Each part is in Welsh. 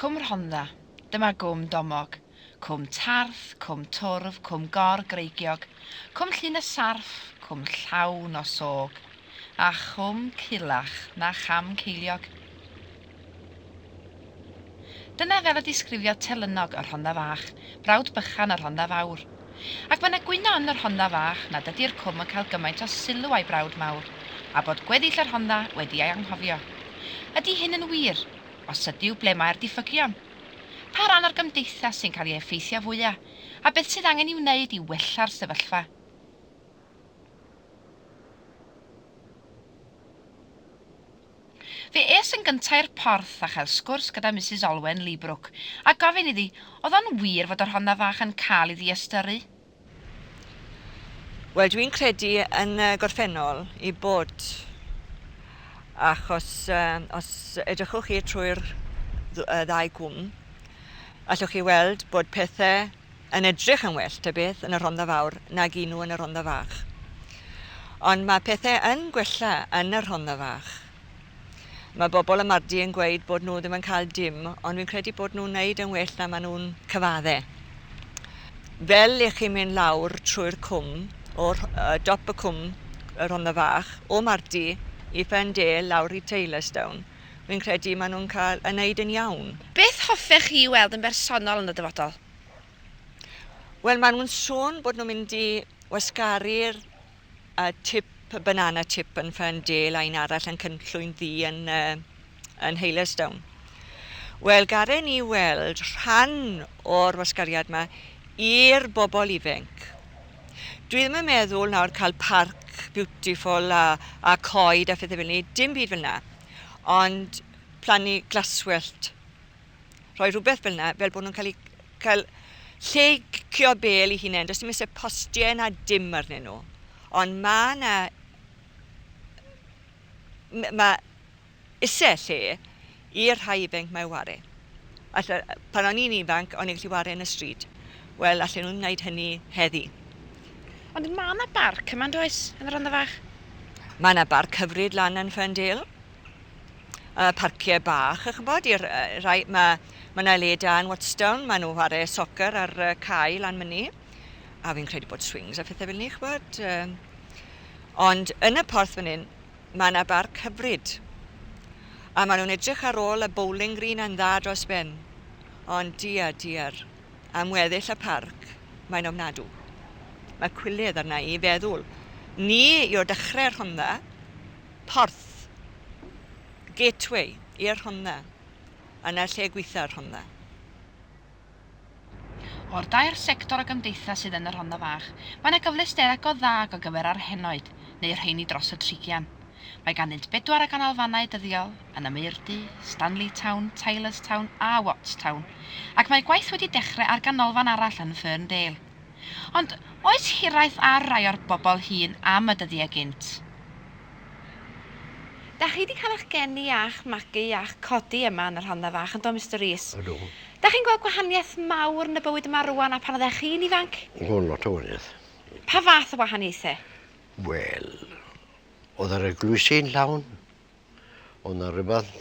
Cwm Rhondda, dyma gwm Domog, cwm Tarth, cwm Twrf, cwm Gor Greigiog, cwm Llyn y Sarff, cwm llawn o sog, a chwm Culach na cham Ceiliog. Dyna fel y disgrifiodd Telynnog y Rhondda Fach, brawd bychan y Rhondda Fawr. Ac mae 'na gwyno yn y Rhondda Fach na dydi'r Cwm yn cael gymaint o sylw a'i brawd mawr, a bod gweddill y Rhondda wedi ei anghofio. Ydi hyn yn wir? Os ydyw, ble mae'r diffygion? Pa ran o'r gymdeithas sy'n cael ei effeithio fwya', a beth sydd angen i'w wneud i wella'r sefyllfa? Fe es yn gynta' i'r porth a chael sgwrs gyda Misus Olwen Leebrook a gofyn iddi o'dd o'n wir fod y Rhondda Fach yn ca'l 'i ddiystyru? Wel dwi'n credu yn y gorffennol 'i bod, achos os edrychwch chi trwy'r ddau gwm allwch chi weld bod pethe yn edrych yn well, ta beth, yn y Rhondda Fawr nag i nhw yn y Rhondda Fach. Ond mae pethe yn gwella yn y Rhondda Fach. Mae bobl y Mardi yn gweud bod nhw ddim yn cael dim, ond fi'n credu bod nhw'n neud yn well na maen nhw'n cyfadde. Fel i chi mynd lawr trwy'r cwm, o'r uh, dop y cwm, y Rhondda Fach, o Mardi i Ferndale lawr i Taylorstown, Wi'n credu maen nhw'n cael yn wneud yn iawn. Beth hoffech chi i weld yn bersonol yn y dyfodol? Wel, maen nhw'n sôn bod nhw'n mynd i wasgaru'r tip, y banana tip yn Ferndale a un arall yn Cynllwyn Ddu yn yn Haylesdown. Wel, garen ni weld rhan o'r wasgariad 'ma i'r bobl ifenc. Dwi ddim yn meddwl nawr cael parc beautiful a, a coed a phethau fel ni, dim byd fel yna. Ond plannu glaswellt. Rhoi rhywbeth fel yna, fel bod nhw'n cael, cael lle i cio bel i hunain. Does dim eisiau postiau na dim arnyn nhw. Ond mae yna... Mae Isie lle i'r rhai ifainc 'ma i ware. Alle, pan o'n i'n ifanc, o'n i'n gallu ware yn y stryd. Wel, allen nhw ddim wneud hynny heddi. Ond ma' 'na barc yma, yn does, yn y Rhondda Fach? Ma' 'na barc hyfryd lan yn Ferndale. Yy, parcie bach, a ch'mbod, i'r yy rhai, ma' ma' 'na le da yn Watstown, ma' nhw whare soccer ar y cae lan myny, a fi'n credu bod swings a phethe fel 'ny, ch'mbod, yy. Ond yn y porth fan 'yn, Mae 'na barc hyfryd. A maen nhw'n edrych ar ôl y bowling green yn dda dros ben. Ond diar, diar, am weddill y parc, mae'n ofnadw. Mae cwilydd arna i feddwl ni yw'r dechrau'r Rhondda, Porth, gateway i'r Rhondda, yna lle gweitha'r Rhondda. O'r dair sector o gymdeithas sydd yn y Rhondda Fach, mae yna gyfleusterau go dda ac o gyfer â'r henoed, neu'r rheiny dros y trigian. Mae ganddynt bedwar o ganolfannau dyddiol, yn y Maerdy, Stanley Town, Tylers Town a Watts Town, ac mae gwaith wedi dechrau ar ganolfan arall yn Ferndale. Ond, oes hiraeth ar rai o'r bobl hŷn am y dyddiau gynt? Dach chi 'di cael eich geni a'ch magu a'ch codi yma yn y Rhondda Fach, yndo Mister Rees? Ydw. Dach chi'n gweld gwahaniaeth mawr yn y bywyd yma rŵan a phan oeddech chi'n ifanc? O, lot o wahaniaeth. Pa fath o wahaniaethau? Wel, oedd yr eglwysi yn llawn, oedd 'na rywbeth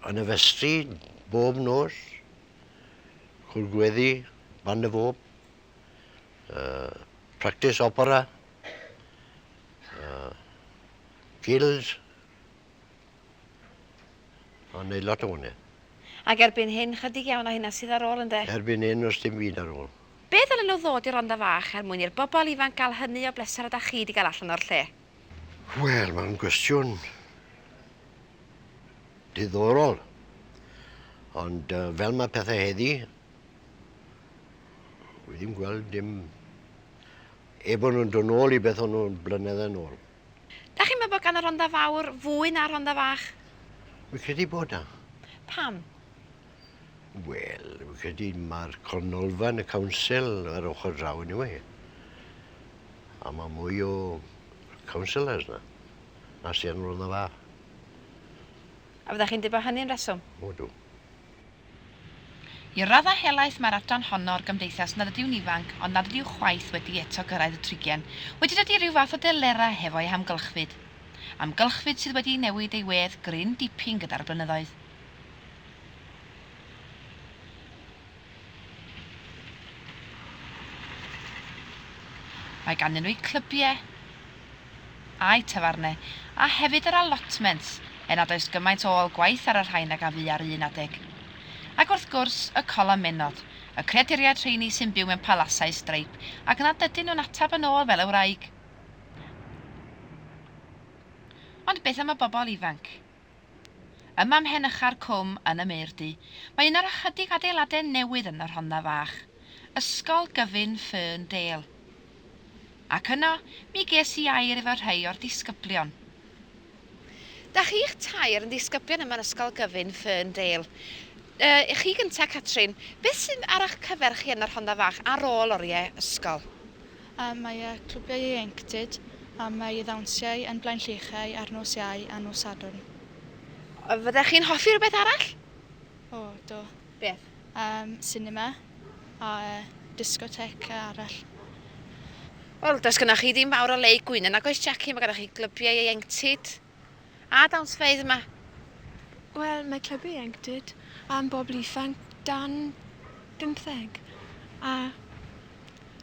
yn y festri bob nos, cwrdd gweddi, band y fob, yy practis opera, Uh, gills. Mae'n neud lot o hwnna. Ac erbyn hyn, chydig iawn o hynna sydd ar ôl ynde? Erbyn hyn, os dim byd ar ôl. Be ddylen nhw ddod i'r Rondda Fach er mwyn i'r bobl ifanc gael hynny o bleser a da chi di gael allan o'r lle? Wel, mae'n gwestiwn diddorol. Ond uh, fel mae pethau heddi, wi ddim gweld dim Er bod nhw'n dod nôl i beth o'n nhw blynyddau nôl. Dach chi'n meddwl bod gan y Rhondda Fawr fwy na'r Rhondda Fach? Fi'n credu bod 'na. Pam? Wel, fi'n credu mae'r Cornolfan, y Council, ar ochr draw yn yw e. A mae mwy o councillors 'na, na sydd yn y Rhondda Fach. A fyddech chi'n dweud bod hynny'n reswm? O, dw. I raddau helaeth mae'r adran honno o'r gymdeithas nad ydyw'n ifanc ond nad ydyw chwaith wedi eto gyrraedd y trigen, wedi dydy rhyw fath o delera hefo ei hamgylchfyd. Amgylchfyd sydd wedi newid ei wedd gryn dipyn gyda'r blynyddoedd. Mae ganddyn nhw eu clybiau. a'i tafarne, a hefyd yr allotment, er nad oes gymaint o ôl gwaith ar y rhain ag a fu ar un adeg. Ac wrth gwrs, y cola menod, y creaduriaid rheini sy'n byw mewn palasau streipp ac nad ydyn nhw'n ateb yn ôl fel y wraig. Ond beth am y bobl ifanc? Yma ym mhen ucha'r cwm yn y Maerdy, mae un o'r ychydig adeiladau newydd yn y Rhondda Fach, Ysgol Gyfun Ferndale. Ac yno, mi ges i air efo rhai o'r disgyblion. Da chi'ch tair yn ddisgyblion yma yn Ysgol Gyfun Ferndale. Yy, chi gynta, Catrin. Beth sydd ar 'ych cyfer chi yn y Rhondda Fach ar ôl oriau ysgol? Am mai y clwbiau ieuenctid, am mai y ddawnsiau yn Blaenllychau ar nos Iau a nos Sadwrn. Fyddech chi'n hoffi rhywbeth arall? O, do. Beth? Yym, sinema a discotheque arall. Wel, does gynnach chi ddim fawr o le i gwyno, nag oes Jackie? Mae gynnach chi glybiau ieuenctid. A dawnsfeydd yma? Wel, mae Clwb Ieuenctid am bobl ifanc dan bymtheg, a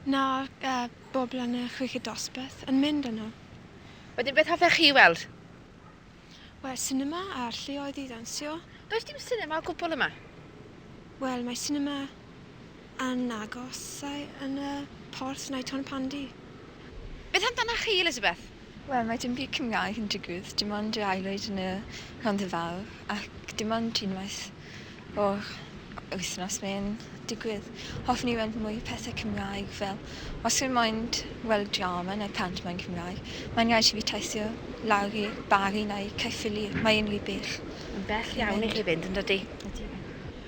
'na bobl yn y chweched dosbarth yn mynd yno. Wedyn beth hoffech chi weld? Wel, sinema a'r lleoedd i ddawnsio. Does dim sinema o gwbl yma? Wel, mae sinema Yn agos ai yn y porth neu Ton Pandy? Beth amdana chi, Elizabeth? Wel, mae dim byd Cymraeg yn digwydd, dim ond yr aelwyd yn y Rhondda Fawr, ac dim ond unwaith o'r wythnos mae'n digwydd. Hoffwn i weld mwy o pethau Cymraeg, fel os rwy'n moyn weld drama neu pantomaim Cymraeg, mae'n rhaid i fi teithio lawr i Bari neu Caerffili, mae e'n rhy bell. Mae'n bell iawn i chi fynd, yn dydi? Ydi.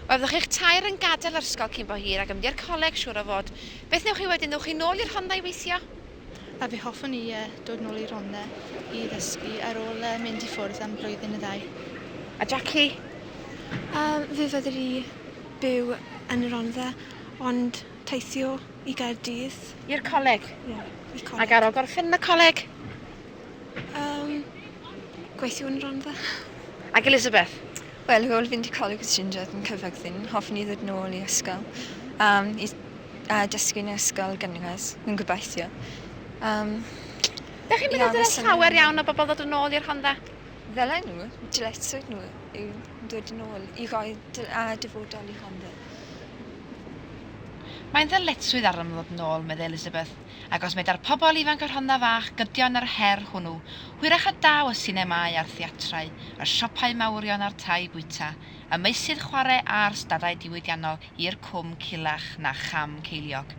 Os ydych chi'ch tair yn gadael yr ysgol cyn bo hir ac yn mynd i'r coleg, siŵr o fod, beth wnewch chi wedyn, wnewch chi nôl i'r Rhondda i weithio? A fe hoffwn i dod nôl i'r Rhondda i ddysgu ar ôl mynd i ffwrdd am flwyddyn neu ddau. A Jackie? Yym, fe fydder i byw yn y Rhondda ond teithio i Gaerdydd. I'r coleg? Ie, i'r coleg. Ac ar ôl gorffen yn y coleg? Yym, gweithio yn y Rhondda. Ac Elizabeth? Wel, ar ôl fynd i Coleg y Trindod yn Caerfyrddin, hoffwn i ddod yn ôl i ysgol um, i uh, dysgu yn ysgol gynradd, yn gobeithio. Um, Dych chi'n meddwl dyle llawer iawn o bobl ddod yn ôl i'r Rhondda? Ddyle nhw, dyletswydd nhw yw dod yn ôl i roi a dyfodol i'r Rhondda. Mae'n ddyletswydd arnom ddod yn ôl, meddai Elizabeth. Ac os meda'r pobl ifanc y Rhondda Fach gydio yn yr her hwnnw, hwyrach y daw y sinemâu a'r theatrau, y siopau mawrion a'r tai bwyta, y meysydd chwarae a'r stadau diwydiannol i'r cwm culach na cham ceiliog.